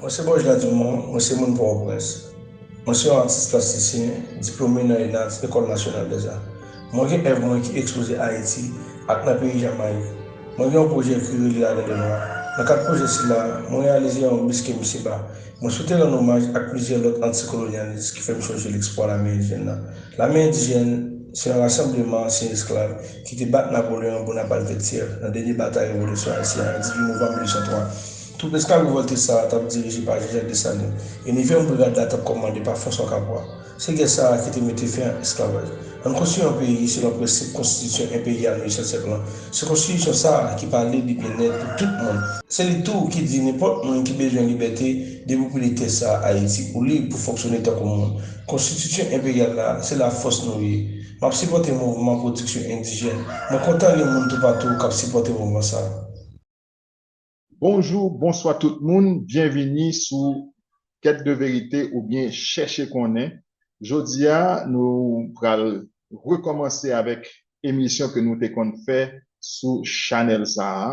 Mwen se Bojda Dumont, mwen se moun Pòtoprens. Mwen se yon atis plastisyen, diplome nan ENADS, Ecole Nationale des Arts. Mwen gen èv mwen ki ekspoze Ayiti ak nan peyi Jamayik. Mwen gen yon pwojè ekri Reli Adan Dènwa. Nan kad pwojè sila, mwen reyalize yon bis ke misye ba Mwen swete rann omaj ak plizyè lòt antikolonyalis ki fè m sonje lespwa lame endyen nan. Lame endyen se yon rasanbleman ansyen esklav ki te bat Napoleon Bonaparte Vètyè nan dènye batay revolisyon ayisyen an 18 novanm 1803. Twoup esklav revòlte sa a t ap dirije pa Jen Jak Desalin e nevyèm brigad la t ap kòmande pa Franswa Kapwa. Se gè sa a ki te mete fen ak esklavaj. Ann konstwi yon peyi selon prensip konstitisyon enperyal 18 syèk lan. Se konstitisyon sa a ki pale de byennèt pou tout moun. Se li tou ki di nenpòt moun ki bezwen libète, depoupile tè sa a, Ayiti, ou lib pou fonksyone tankou moun. Konstitisyon enperyal la, se lafòs nou ye. M ap sipòte mouvman pwodiksyon endijèn. Mwen kontan li moun toupatou k ap sipòte mouvman sa a. Bonjou, bonswa tout moun, byenvini sou Kèt de verite oubyen Chèche konnen. Jodi a nou pral rekòmanse avèk emisyon ke nou te konn fè sou chanèl sa a,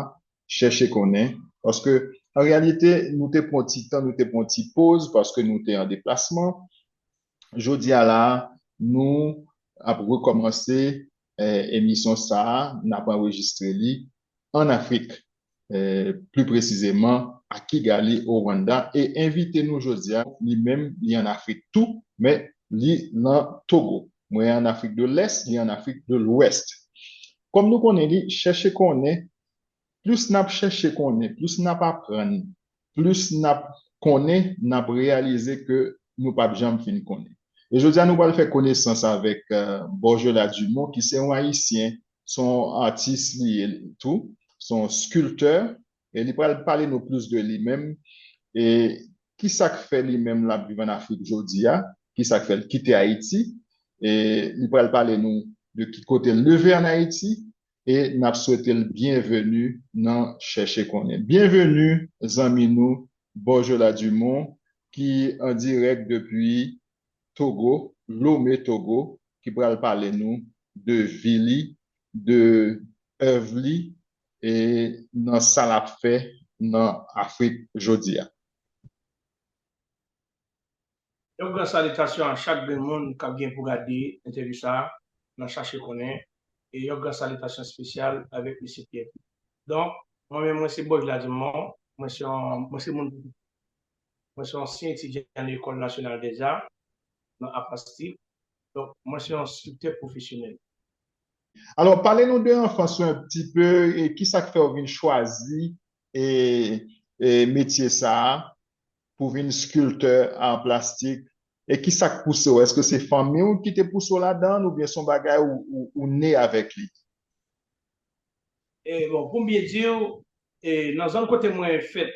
Chèche konnen, paske an reyalite nou te pran yon ti tan, nou te pran yon ti poz paske nou te an deplasman, Jodi a la a, nou ap rekòmanse emisyon sa a, n ap anrejistre li ann Afrik, pli presizeman a Kigali, o Rwanda, e envite nou jodi a, li menm li ann Afrik tou, men li nan Togo. Mwen ann Afrik de Lès, li ann Afrik de Lwès. Kòm nou konnen li, chèche konnen Plis n ap chèche konnen, plis n ap aprann, plis n ap konnen, n ap reyalize ke nou pap janm fin konnen. E jodi a nou pral fè konesans avèk Borgela Dumont ki se yon Ayisyen, se yon atis li ye tou, se yon skiltè e li pral pale nou plis de li menm e ki sa k fè li menm l ap viv ann Afrik jodi a, ki sa k fè l kite Ayiti e li pral pale nou de ki kote l leve ann Ayiti e nap swete l byenveni nan chèche konnen. Byenveni zanmi nou Borjola Dumont ki an dirèk depi Togo, Lome Togo, ki pral pale nou de vi li, de èv li e nan sa lap fè nan Afrik jodi a. Yon gran salitasyon a chak grenn moun kap gen pou gade entèvyou sa nan chache konnen e yon gran salitasyon spesyal avèk mesye Pierre Philippe. Donk mwen menm mwen se Boj Ladimon, mwen se yon mwen se moun pou mwen se ansyen etidyan nan Ecole Nationale des Arts nan Art Plastique donk mwen se yon scriptè pwofesyonèl. Alò pale nou de anfans ou un pti pe e kisak fèw vin chwazi e e metye sa pou vin skiltè ar plastik e kisa k pouse w èske se fanmi w ki te pouse w ladan l oubyen se yon bagay ou ne avèk li? E bon pou m byen di w e nan zòn kote mwen fèt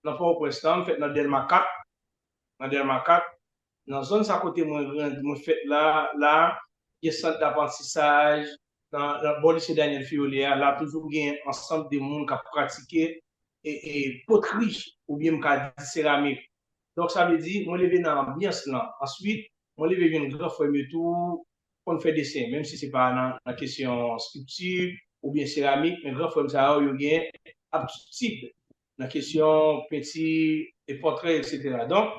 nan pòtoprens lan m fèt nan dèlma 4 nan dèlma 4 Nan zòn sa kote mwen grandi, mwen fèt la, la, gen sant daprantisaj, nan bò lise Daniel Fiolet a, la toujou gen ansanm de moun k ap pratike potri oubyen m ka di seramik. Donk sa vle di mwen leve nan anbyans lan. Answit, mwen leve jwenn gran frè m yo tou konn fè desen, menm si se pa nan kesyon strikti oubyen seramik, men gran frè m sa yo, yo gen aptitid nan kesyon penti, pòtrè, eksetera. Donk,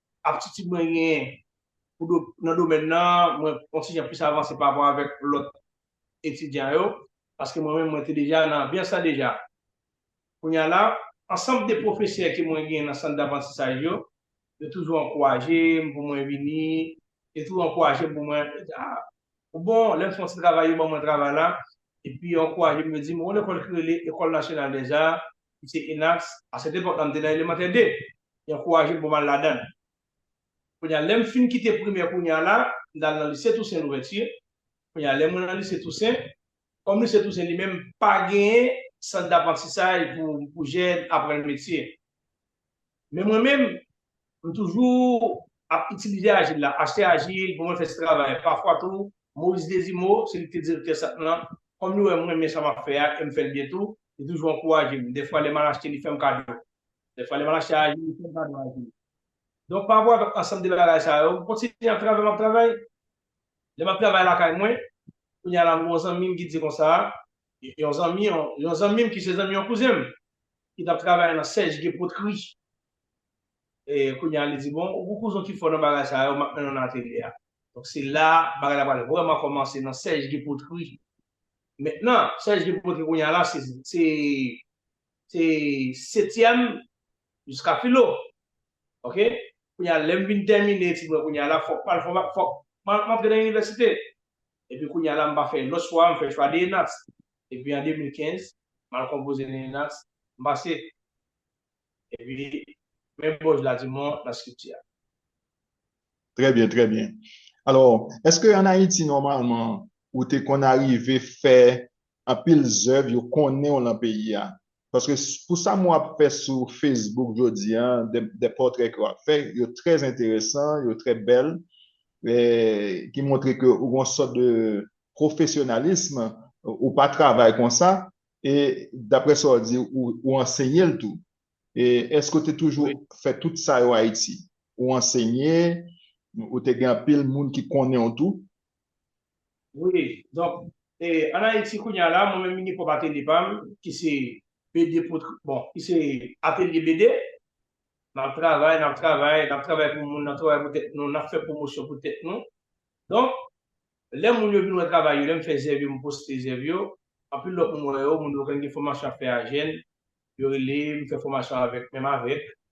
aptitid mwen genyen nan domèn nan, mwen kontinye plis avanse pa rapò avèk lòt etidyan yo, paske mwen menm mwen te deja nan anbyans la deja. Kounye a la, ansanm de pwofesè ke mwen genyen nan sant daprantisaj yo, yo toujou ankouraje m pou mwen vini, yo toujou ankouraje m pou mwen, yo di, ah, ou bon, lè m fè yon ti travay, yo ban mwen travay la, epi yo ankouraje m, yo di m, gon lekòl ki rele Ecole Nationale des Arts, Misye Inax, A sèt epòk la m te nan Elemantè 2, li ankouraje m pou m al ladan l. Kounye a lè m fin kite Primè kounye a la, m t al nan Lise Tousen Louvèti. Kounye a lè mwen nan Lise Tousen, kòm Lise Tousen li menm pa genyen sant daprantisaj pou jèn aprann metye, Men mwen menm, m toujou ap itilize ajil la, achte ajil pou mwen fè ti travay. Pafwa tou, Moris Dezimo, seli ki te direktè sant lan, kòm li wè m renmen sa m ap fè a e m fè l byen tou, li toujou ankouraje m. Dèfwa lè m al achte li fè m kado. Dèfwa lè m al achte ajil li fè m kado ajil. Donk pa rapò avèk ansanm de bagay sa yo, m kontinye ap travay m ap travay. Lè m ap travay lakay mwen, kounye a la m gen yon zanmi m ki di konsa, yon zanmi yon zanmi m ki se zanmi yon kouzen m ki t ap travay nan Serge Guy Poterie. E kounye a li di, bon, ou gen yon kouzen w ki fò nan bagay sa yo, m ap mennen w nan atelye a. Donk se la bagay la pral vrèman kòmanse nan Serge Guy Poterie. Mentnan, Serge Guy Poterie kounye a la se se setyèm jiska filo. ok kounya lèm vin tèmine etid mwen kounya la fòk pal fòm fòk mwen antre nan inivèsite epi kounya la mpa fè lòt chwa mfè chwa DNAS epi an 2015 mal konpoze DNAS mpase epi men bòz la dimon nan skripti a. Trè byen trè byen alò eske an ayiti nòmalman ou te konn arive fè anpil zèv yo konnen w lan peyi a paske pou sa mwen ap fè sou Facebook jodi a de pòtrè ke w ap fè yo trè enteresan yo trè bèl ki montre ke ou gen yon sòt de pwofesyonalism ou pa travay konsa e daprè sa w di ou ansenye l tou èske ou te toujou fè tout sa yo Ayiti ou ansenye ou te gen anpil moun ki konnen w tou. Wi, donk e an Ayiti kounya la mwen menm mini pwòp atelye pa m ki se BD pot bon ki se atelye BD. N ap travay, n ap travay, n ap travay pou moun, n ap travay pou tèt nou, n ap fè pwomosyon pou tèt nou. Donk, lè moun yo vin wè travay yo, lè m fè zèv yo, m poste zèv yo, anpil lòt moun wè yo, moun yo knnen gen fòmasyon y ap fè a jèn, yo rele m fè fòmasyon avèk menm avèk.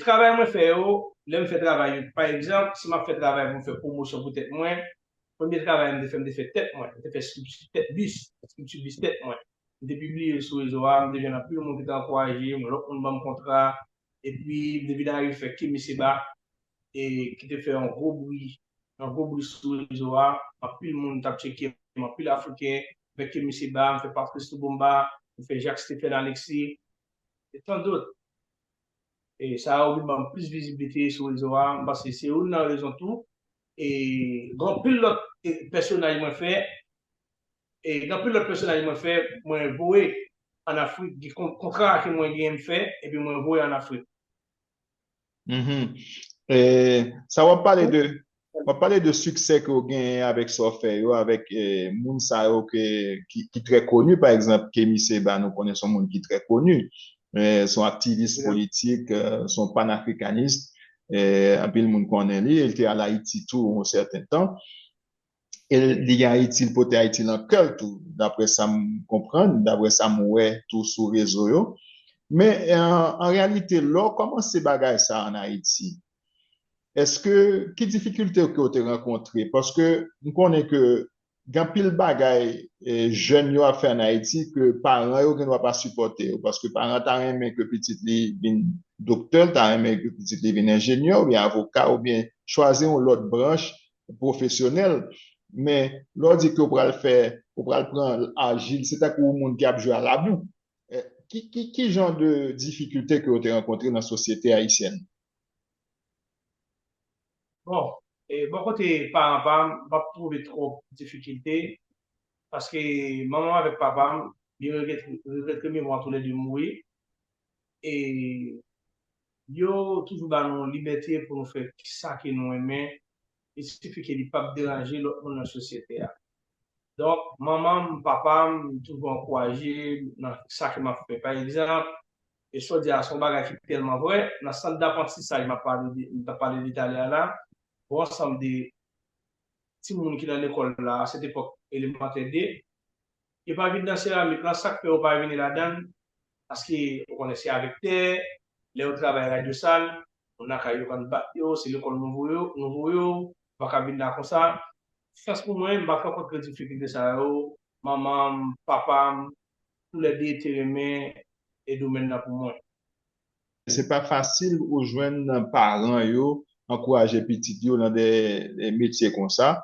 Travay mwen fè yo, lè m fè travay yo, pa egzanp, si m ap fè travay pou m fè pwomosyon pou tèt mwen, premye travay m te fè, m te fè tèt mwen, m te fè scripture tèt bis, scripture bis tèt mwen, m te pibliye l sou rezo a, m te jwenn anpil moun ki te ankouraje m, lòt moun ban m kontra, epi m te vin arive fè Kemi Seba, ki te fè yon gwo bri, yon gwo bri sou rezo a, anpil moun t ap tcheke m, anpil Afriken, m fè Kemi Seba, m fè Patrice Lubumba, m fè Jacques Stephen Alexis. e tant dot. E sa yo vin banm plis viziblite sou rezo a, m panse se youn nan rezon tou. E gen anpil lòt pèsonaj mwen fè, e gen anpil lòt pèsonaj mwen fè, mwen voye an Afrik, gen kontra ke mwen genyen m fè epi mwen voye an Afrik. Sa wap pale de wap pale de siksè ke ou genyen avèk sa w fè yo avèk moun sa yo ki trè koni pa egzanp Kemi Seba nou konnen son moun ki trè koni son aktivis politik son panafrikanist anpil moun konnen li el te al Ayiti tou yon sèten tan E li gen Ayiti, li pote Ayiti nan kè l tou, daprè sa m konprann, daprè sa m wè tou sou rezo yo. Men, an reyalite, lè w kòmanse bagay sa a ann Ayiti, èske, ki difikilte ke w te rankontre? Paske, m konnen ke gen anpil bagay jèn yo ap fè ann Ayiti ke paran yo gendwa pa sipòte yo. Paske paran ta renmen ke pitit li vin doktè, l ta renmen ke pitit li vin enjenyè oubyen avoka oubyen chwazi yon lòt branch pwofesyonèl, men lè w di ke w pral fè, ou pral pran ajil, se tankou yon moun ki ap jwe a labou. Ki jan de difikilte ke w te rankontre nan sosyete ayisyèn? Bon, bò kote paran pa m, m pa t twouve twòp difikilte, paske manman m avèk papa m, yo regret ke mimwa toulède mouri. e yo toujou ba nou libète pou nou fè sa ke nou renmen e sifi ke li pap deranje lòt moun nan sosyete a. Donk, manman m, papa m toujou ankouraje m nan sa ke m ap fè. Pa egzanp, e sa w di a se yon bagay ki tèlman vrè, nan sant daprantisaj m ap pale de, m t ap pale de talè a la, yon ansanm de timoun ki nan lekòl la, a sèt epòk, Elemantè 2, Yo pa vin nan seramik lan sak fè ou pa vini ladann paske ou konnen se avèk tè lèw travay radyo sal moun lakay yo konn bat yo se lekòl nou voye nou voye w ou paka vin la konsa chans pou mwen m pa fè kontre difikilte sa yo manmanm papam tou lè 2 te renmen e domèn nan pou mwen. Se pa fasil ou jwenn paran yo ankouraje pitit yo nan de metye konsa.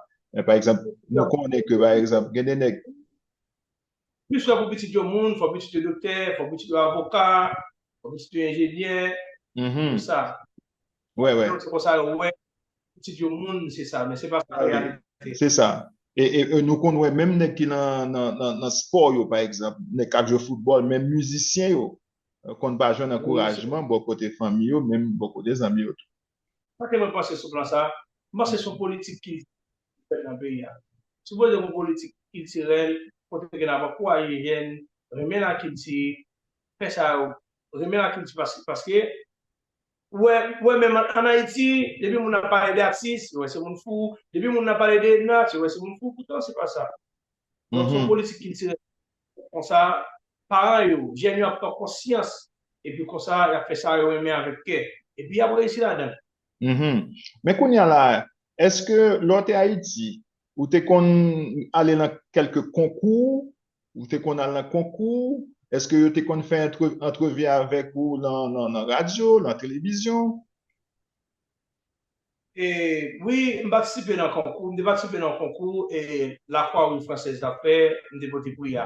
Pa egzanp, nou konnen ke pa egzanp gen de nèg. Plis lè pou pitit yo moun, fò pitit yo doktè, fò pitit yo avoka, fò pitit yo enjenyè, tout sa. Wè wè. Se konsa yo wè pitit yo moun se sa, men se pa sa reyalite. Se sa. E nou konn wè menm nèg ki nan spò yo pa egzanp, nèg k ap jwe foutbòl, menm mizisyen yo, konn pa jwenn ankourajman bò kote fanmi yo, menm bò kote zanmi yo tou. Sa ke mwen panse sou plan sa, mwen panse son politik kiltirèl ki fèt nan peyi a. Sipoze gon politik kiltirèl kote ke n ap ankouraje jèn renmen lakilti, fè sa yo, renmen lakilti paske ou wè, ou wè menm an Ayiti, depi moun ap pale de atis, yo wè se moun fou, depi moun ap pale de nat, yo wè se moun fou, poutan se pa sa. Donk son politik kiltirèl Konsa, paran yo, jèn yo ap pran konsyans epi konsa y ap fè sa yo renmen avèk kè. Epi y ap reyisi ladan l. Men kounye a la, èske lè w te Ayiti, ou te konn ale nan kèlke konkou? Ou te konn al nan konkou? Èske yo te konn fè antrevi avèk ou nan radyo, nan televizyon? E wi, m patisipe nan konkou, m te patisipe nan yon konkou e la kwa wouj fransèz t ap fè, m te pote pri a.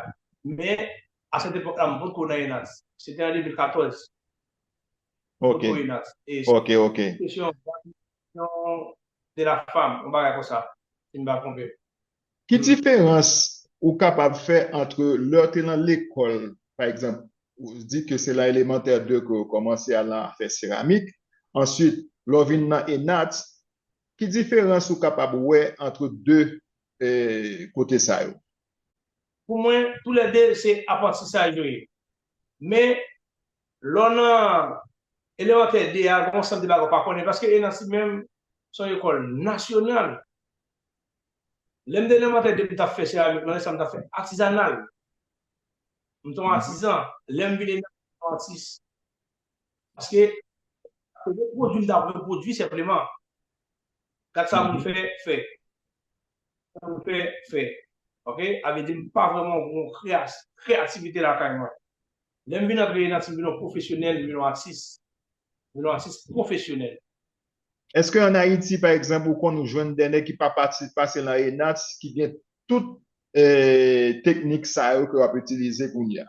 Men, a sèt epòk la m potko nan ENADS. Se te an 2014. M potko ENADS. E se te yon kesyon de la fanm, yon bagay konsa, si m pa twonpe m. Ki diferans ou kapab fè antre lè w te nan lekòl, pa egzanp, ou di ke se nan Elemantè 2 ke ou kòmanse al nan afè seramik, answit lè w vin nan ENAT, ki diferans ou kapab wè antre 2 kote sa yo? Pou mwen, tou lè 2 se aprantisaj yo ye. Men, lè w nan Elemantè 2 a, gen yon sant de bagay ou pa konnen, paske ENAT li menm se yon ekòl nasyonal. Lè m te elemantè depi m t ap fè seramik mwen sa m t ap fè atizanal. M te yon atizan. Lè m vin eleman m te yon atis. Paske se yon pwodui m ta vle pwodui senpleman. Gad sa moun fè, fè. Gad sa moun fè, fè. Ok? A vle di m pa vrèman gen yon kreyativite lakay mwen. Lè m vin antre nan ti m vin yon pwofesyonèl, m vin yon atis. M vin yon atis pwofesyonèl. Eske an Ayiti pa egzanp ou konn ou jwenn dè nèg ki pa pase lan ENATS ki gen tout teknik sa yo ke wap itilize kounya?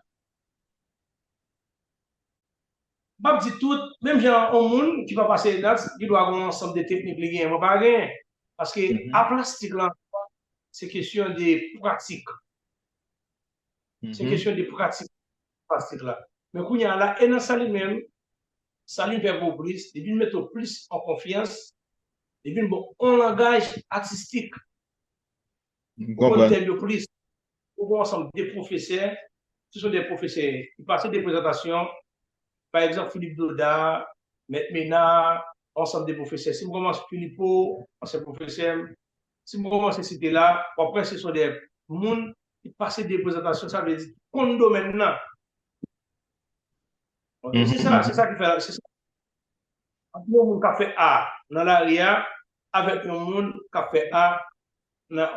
Map di tout, menm jan an on moun ki pa pase ENATS gen dwa gen on ansanm de teknik li genyen mwen pa genyen. Paske a plastik lan ankò se kesyon de pratik. Se kesyon de pratik. Plastik la. Men kounya la e nan sali menm sali vè gwo plis li vin mete w plis an konfyans li vin ba w on langaj atistik M pou konn tèm yo konprann. plis ou gen on ansanm de pwofesè se son de pwofesè ki pase de prezantasyon pa egzanp Filip Doda Mèt Mena on ansanm de pwofesè si m kòmanc Filipo ansyen pwofesè m Si m kòmanse site la, w ap wè se son dè moun ki pase de prezantasyon, sa vle di ki konn domèn nan. Ok, se sa, se sa ki fè, se sa. Ant yon moun k ap fè a nan lari a avèk yon moun k ap fè a nan,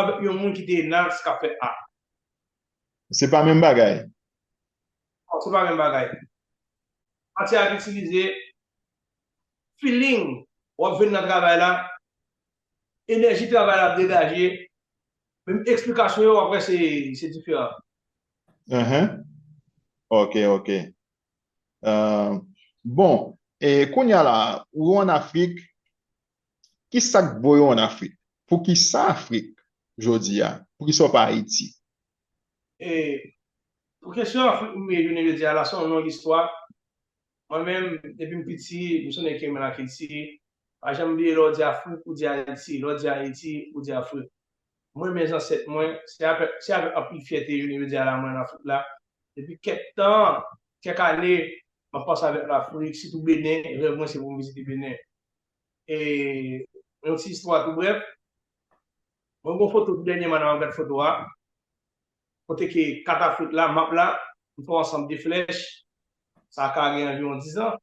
avèk yon moun ki te nas k ap fè a. Se pa menm bagay. Non, se pa menm bagay. Matyè a k itilize, feeling, w ap jwenn nan travay la, Enèji travay la ap degaje menm eksplikasyon yo aprè se diferan. Ahan ok ok bon kounya la ou an afrik kisak t voye w an afrik poukisa afrik jodi a poukisa w pa ayiti. Pou kesyon afrik m ye jounen jodi a la se yon long istwa. Mwen menm, depi m piti, m sonnen ke men lakilti. Pa janm bliye lè w di Afrik, ou di Ayiti, lè w di Ayiti, ou di Afrik. M renmen zansèt mwen, se avèk anpil fyète jounen jodi a la mwen ann Afrik la. Depi kèk tan, kèk ane, m ap panse avèk Lafrik, sitou Benen, rèv mwen se pou m vizite Benen. E yon ti istwa tou brèf, mwen gen yon foto tou dènyèman nan m ap gad foto a, Kote ke katafwit la, map la, m fè yon ansanm de flèch, sa ka gen anviwon dizan,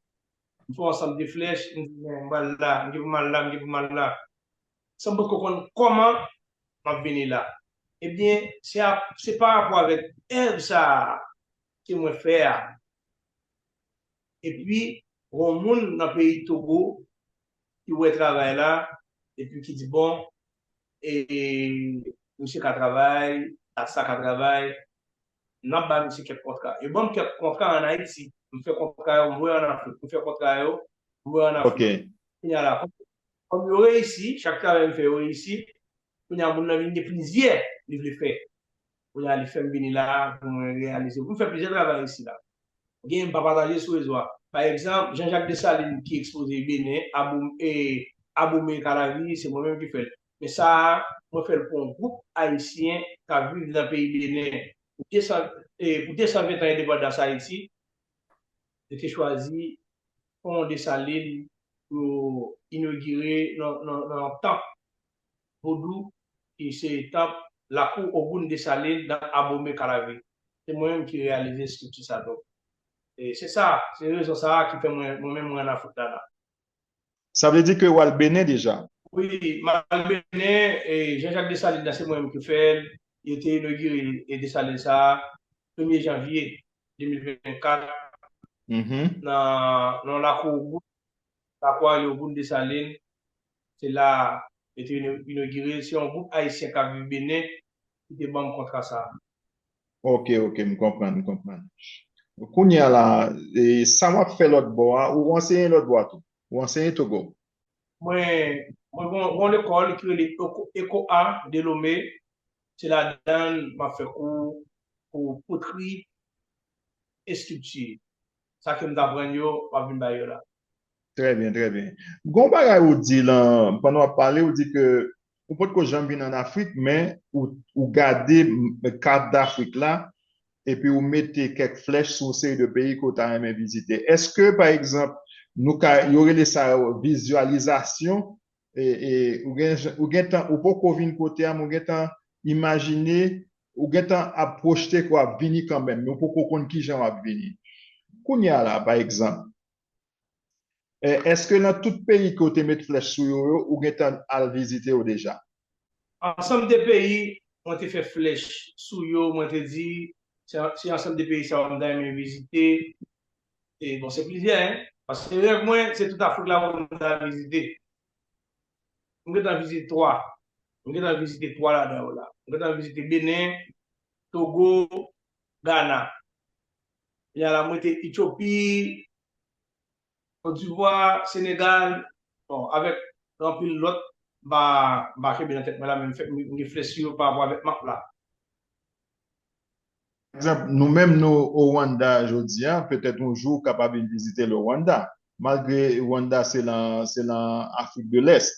m fè yon ansanm de flèch, m di bon, m pral la, m gen pou m al la, m gen pou m al la, san m poko konn kòman map vini la. Ebyen, se a, se pa rapò avèk èv sa a ke mwen fè a. Epi, gon moun nan peyi Togo ki wè travay la epi ki di bon misye ka travay, dat sa ka travay, n ap ba misye kèk kontra. Yo ban m kèk kontra an Ayiti. M fè kontra yo, m wè an Afrik. M fè kontra yo, m wè an Afrik. Kounye a la, kòm yo reyisi, chak travay m fè yo reyisi, Kounye a moun nan vin gen plizyè li vle fè. Kounye a li fè m vini la a pou mwen reyalize pou m fè plizyè travay isila. Genyen m pa pataje sou rezo a. Pa egzanp, Jean Jacques Dessalines ki ekspoze Benen, Aboum e Abomey Calavi se mwen menm ki fè l. Men sa a mwen fè l pou yon gwoup Ayisyen k ap viv nan peyi Benen pou 200 e pou 220 tan endepandans Ayiti. Yo te chwazi Pon Dessalines pou yo inogire nan nan yon tanp Vodou ki se tanp lakou Ogoun Desalin nan Abomey Calavi. Se mwen menm ki reyalize estrikti sa donk se sa se rezon sa ki fè mwen mwen menm mwen an Afrik la la. Sa vle di ke ou al Benen deja? Wi, m al Benen, Jean Jacques Dessalines la se mwen menm ki fè l, yo te inogire Dessalines sa premye janvye 2024 nan lakou Ogoun Kapwa yo boule Desalin, se la a yo te inogire l, se yon gwoup ayisyen k ap viv Benen ki te ban m kontra sa a. Ok, ok, m konprann, m konprann. Kounye a la, sa w ap fè lòtbò a, ou anseye lòtbò a tou? Ou anseye Togo? Mwen, mwen gen yon lekòl ki rele ECOA de Lomé, se ladan l m ap fè kou pou potri, estrikti. Sa ke m t aprann yo, m ap vin bay yo la. Trè byen, trè byen. Gon bagay ou di lan, pandan w ap pale, ou di ke ou pot ko janm vin an Afrik, men ou gade kat dAfrik la, epi ou mete kèk flèch sou yon seri de peyi ke w ta renmen vizite. Eske, pa egzanp, nou ka, yo rele sa vizyalizasyon? ou gentan ou poko vin kote a men ou gentan imajine ou gentan ap pwojte ke w ap vini kanmenm men ou poko konn kijan w ap vini kounye a la pa egzanp èske nan tout peyi ke w te met flèch sou yo yo ou gentan al vizite yo deja? Ansanm de peyi mwen te fè flèch sou yo mwen te di se ansanm de peyi sa yo m ta renmen vizite E bon se plizyè hein. Paske rèv mwen se tout Afrik la pou mwen al vizite. M gentan vizite 3. M gentan vizite 3 ladan yo la. M gentan vizite Benen, Togo, Gana. Kounya la m rete Etyopi, Kotdivwa, Senegal. Bon avèk anpil lòt m pa m pa kenbe nan tèt mwen la men m gen flè sou yo pa rapò avèk map la. Pa egzanp, nou menm nou o Rwanda jodi a, petèt yon jou w kapab vin vizite le Rwanda. Malgre Rwanda se lan se lan Afrik de Lès,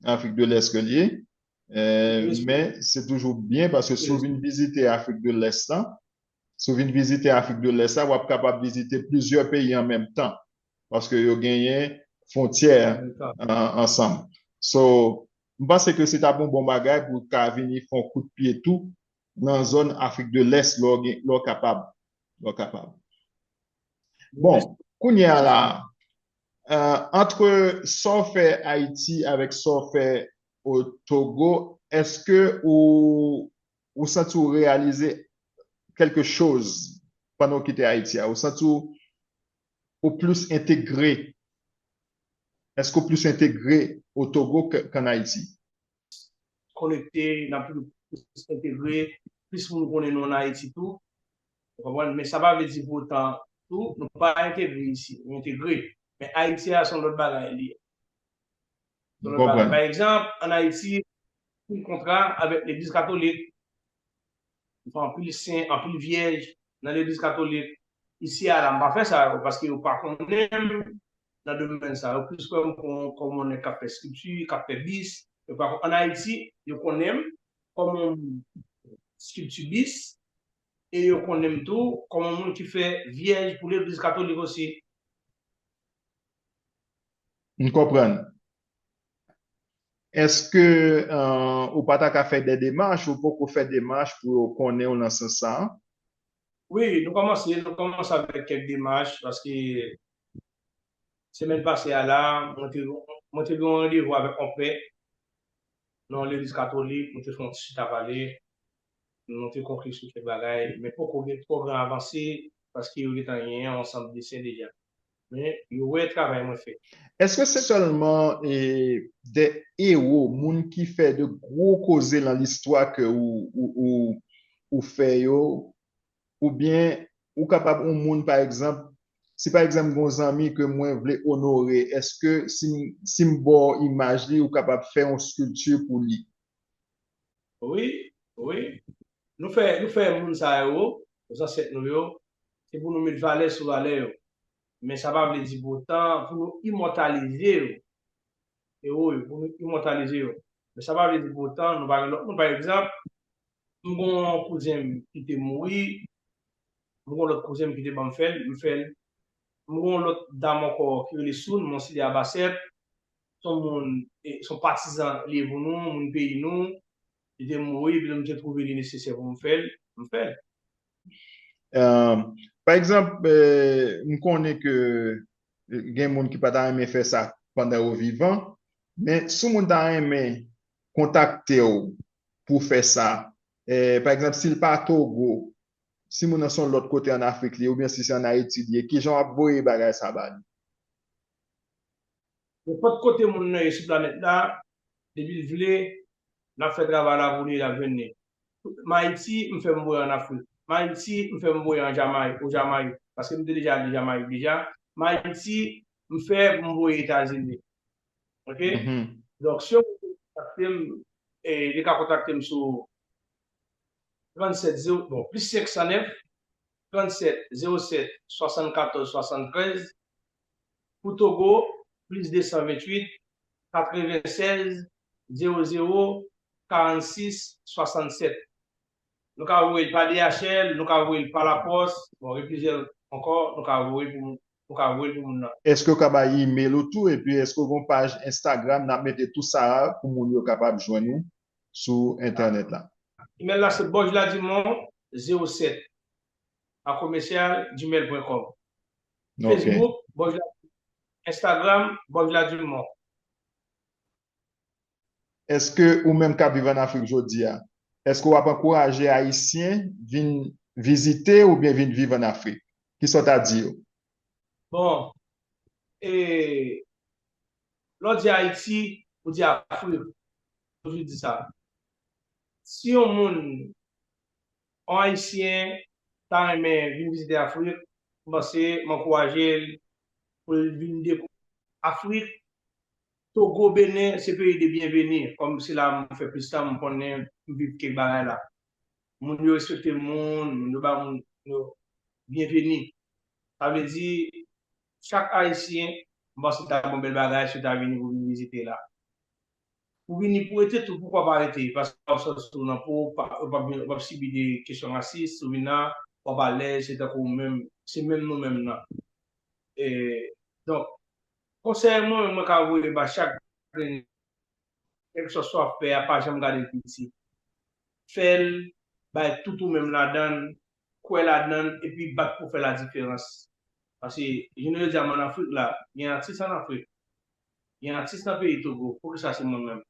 lan Afrik de Lès ke l ye, men se toujou byen paske si w vin vizite Afrik de Lès la, si w vin vizite Afrik de Lès la, w ap kapab vizite plizyè peyi an menm tan paske yo genyen fwontyè ansanm. So, M panse ke se t ap yon bon bagay pou w ka vini fè yon kout pye tou nan zòn Afrik de Lès lè w gen, lè w kapab, lè w kapab. Bon, kounye a la a, antre sa w fè Ayiti avèk sa w fè o Togo, èske ou, ou santi w reyalize kèlke choz pandan w kite Ayiti a? Ou santi w, ou plis entegre Eske w plis entegre o Togo k an Ayiti? Konekte, n ap toujou plis entegre, plis moun konnen nou an Ayiti tou. Ou konprann? Men sa pa vle di pou otan tou nou pa entegre isi. Nou entegre. Men Ayiti a se yon lòt bagay li ye. Se yon lòt bagay. Pa egzanp, an Ayiti, siy kontra avèk legliz katolik. Yo fè anpil sen, anpil vyèj nan legliz katolik. Isi a la, m pa fè sa yo paske yo pa konnen m nan domèn sa. Yo plis wè m kòm yon nèg k ap fè skripti, k ap fè bis. Yo pa konnen. An Ayiti, yo konnen m kòm yon moun ki fè skripti bis e yo konnen m tou kòm yon moun ki fè vyèj pou legliz katolik osi. M konprann. Eske ou pa ta ka fè dè demach, ou poko fè demach pou yo konnen w nan sans sa a? Wi, nou kòmanse, nou kòmanse avèk kèk demach paske semèn pase a la, mwen te mwen te gen yon randevou avèk yon pè nan yon legliz katolik, nou te fè yon ti chita pale, nou te konkli sou kèk bagay, men poko gen twò gran avanse paske yo gen tan genyen yon ansanm dessin deja. Men yo wè travay mwen fè. Eske se sèlman de ewo, moun ki fè de gwo koze lan listwa ke ou fè yo? Ou byen ou kapab yon moun pa egzanp, si pa egzanp gen yon zanmi ke mwen vle onore, eske si m ba w imaj li ou kapab fè yon skilpti pou li? Wi, wi. Nou fè moun sa yo, zansèt nou yo, Se pou nou met valè sou valè yo. Men sa pa vle di pou otan pou nou imòtalize yo, ewo yo, pou nou imòtalize yo. Men sa pa vle di pou otan nou pa gen lòt moun. Pa egzanp, m gen yon kouzen m ki te mouri, m gen yon lòt kouzen m ki te ban m fè l, m fè l. M gen yon lòt dam ankò ki rele Soun, Monsilya Basèp. Se yon moun, se yon patizan li ye pou nou, moun peyi nou. Li te mouri, epi m te twouve li nesesè pou m fè l, m fè l. Pa egzanp, m konnen ke gen moun ki pa ta renmen fè sa pandan yo vivan, men si yon moun ta renmen kontakte w pou fè sa, pa egzanp, si l pa Togo, si moun nan se yon lòt kote an Afrik li ye oubyen si se an Ayiti li ye, kijan w ap voye bagay sa ba li? Nenpòt kote moun nan ye sou planèt la, depi l vle, n ap fè travay la pou li e l ap jwenn li. M Ayiti, m fè m voye an Afrik. M Ayiti, m fè m voye an Jamayik, o Jamayik, paske m te deja ale Jamayik deja. M Ayiti, m fè m voye Etazini. Ok? Donk, si yon moun vle kontakte m, li ka kontakte m sou 37 ze, bon, plis 509, 37 07 74 73 Pou Togo, plis 228, 96, 00, 46, 67. Nou ka voye l pa DHL, nou ka voye l pa lapòs, bon gen plizyè lòt ankò nou ka voye pou moun, nou ka voye l pou moun nan. Eske ou ka bay email ou tou epi eske ou gen yon paj Instagram nap mete tout sa a pou moun yo kapab jwenn ou sou entènèt la. Email la se bojladimon 07 akomesyal gmail pwen kòm. Facebook, Bòvila Dumont. Instagram, Bòvila Dumont. Eske ou menm kap viv an Afrik jodi a, eske wap ankouraje Ayisyen vin vizite oubyen vin viv an Afrik? Kisa w ta di yo? Bon, e, lè w di Ayiti, ou di Afrik, toujou di sa. Si yon moun On Ayisyen ta renmen vin vizite Afrik, m panse m ankouraje l pou l vin dekouvri Afrik. Togo, Benen se peyi de byenveni, kòm se la m fè plis tan, m konnen, m viv kèk bagay la. Moun yo respekte moun, moun yo ba moun yo byenveni. Sa vle di, chak Ayisyen, m panse ta gen on bèl bagay si yo ta vini pou vin vizite la. Ou vini pou rete tou poukwa pa rete paske wap santi w nan po w pa wap sibi de kesyon rasis ou vin la wap alèz se tankou w menm se menm nou menm nan e donk konsèy mwen menm mwen ka voye ba chak grenn kèlkesòs wap fè a pa janm gade l piti fè l bay tout ou menm ladan l kwè ladan l epi bat pou w fè ladiferans paske jounen jodi a m an afrik la gen atis an afrik Gen atis nan peyi Togo poukisa se mwen menm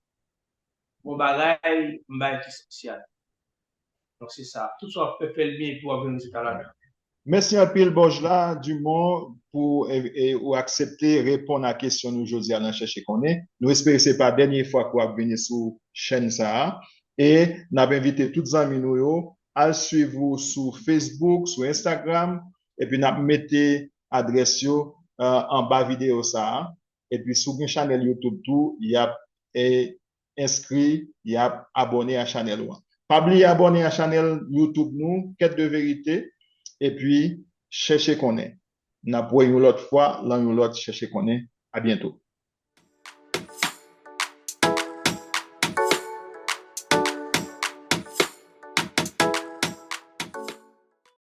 bon bagay m bay ki spesyal donk se sa tout sa wap fè fèl byen epi wap jwenn rezilta ladan. Mèsi anpil Bojla Dumont pou ou aksepte reponn a kesyon nou jodi a nan chèche konnen. Nou espere se pa dènye fwa ke wap vini sou chèn sa a e nap envite tout zanmi nou yo al swiv ou sou Facebook, sou Instagram Epi nap mete adrès yo anba video sa a. Epi si w gen chanèl youtube tou yap enskri yap abòne a chanèl ou an. Pa bliye abòne a chanèl youtube nou Quête de vérité epi chèche konnen. Nap wè yon lòt fwa lan yon lòt chèche konnen. A byento.